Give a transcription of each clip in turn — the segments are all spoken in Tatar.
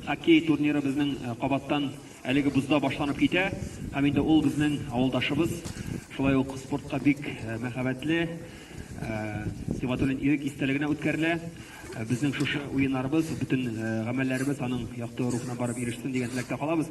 Хоккей турниры безнең кабаттан әлеге бозда башланып китә. Һәм инде ул безнең авылдашыбыз, шулай ук спортка бик мәхәббәтле Сибгатуллин Ирек истәлегенә үткәрелә. Безнең шушы уеннарыбыз, бөтен гамәлләребез аның якты рухына барып ирешсен дигән теләктә калабыз.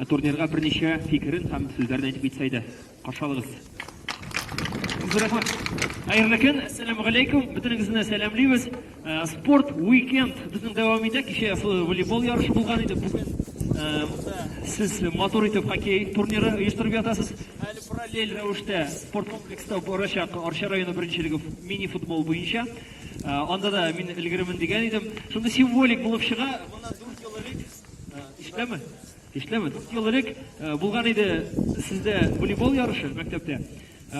Ә турнирга берничә фикерен һәм сүзләрен әйтеп китсә иде. Каршы алыгыз. Зур рәхмәт. Хәерле көн, әссәламү галәйкүм. Бөтенегезне дә сәламлибез. Э, спорт уикенд безнең дәвам итә. Кичә ясыл волейбол ярышы булган иде. Бүген э, монда сез матур итеп хоккей турниры оештырып ятасыз. Әле параллель рәвештә спорт комплекста барачак Арча районы беренчелеге мини футбол буенча. Э, анда да мин өлгеремен дигән идем. Шундый символик булып чыга. Моннан 4 ел элек Эшләме? Эшләме? Дүрт ел элек булган иде сездә волейбол ярышы мәктәптә.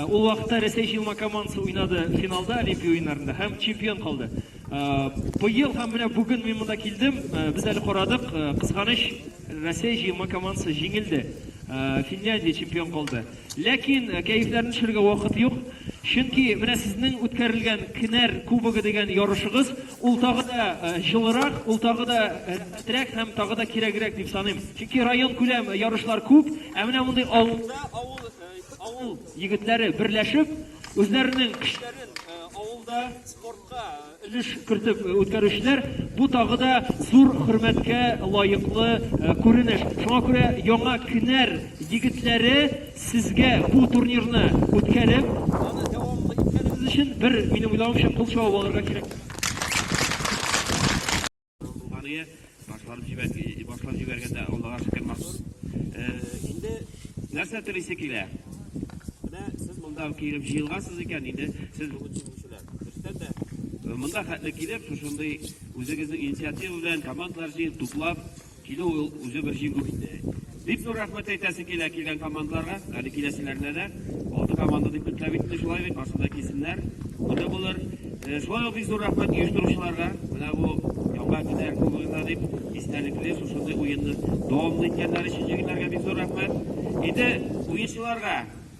Ул вакытта Рәсәй җыелма командасы уйнады финалда Олимпия уеннарында һәм чемпион калды. Быел һәм менә бүген мин монда килдем, без әле карадык, кызганыч, Рәсәй җыелма командасы җиңелде. Финляндия чемпион калды. Ләкин кәефләрне төшерергә вакыт юк, чөнки менә сезнең үткәрелгән Кенәр кубогы дигән ярышыгыз, Ул тагы да җылырак, ул тагы да рәхәтрәк һәм тагы да кирәгрәк дип саныйм. Чөнки районкүләм ярышлар күп, ә менә мондый авылда авыл егетләре берләшеп, үзләренең көчләрен авылда спортка өлеш кертеп үткәрүчеләр, бу тагы да зур хөрмәткә лаеклы күренеш. Шуңа күрә Яңа Кенәр егетләре Сезгә бу турнирны үткәреп, аны дәвамлы иткәнегез өчен бер, минем уйлавымча, кул чабып алырга кирәк. Булганы башлап җибәргән, башлап җибәргәндә Аллага шөкер махсус. Инде нәрсә телисе килә? Менә сез монда килеп җыелгансыз икән, инде сез бүген җиңүчеләр. Дөрестән дә монда хәтле килеп, шушындый үзегезнең инициатива белән командалар җыеп, туплап, Килү ул үзе бер җиңү инде. Бик зур рәхмәт әйтәсе килә килгән командаларга, әле киләселәренә дә. Алты команда дип көтелә бит инде шулай бит, барсы да килсеннәр, күңелле булыр. Шулай ук бик зур рәхмәт оештыручыларга, менә бу Яңа көннәр кубогына дип истәлекле шушындый уенны дәвамлы иткәннәр өчен җегетләргә бик зур рәхмәт. Инде уенчыларга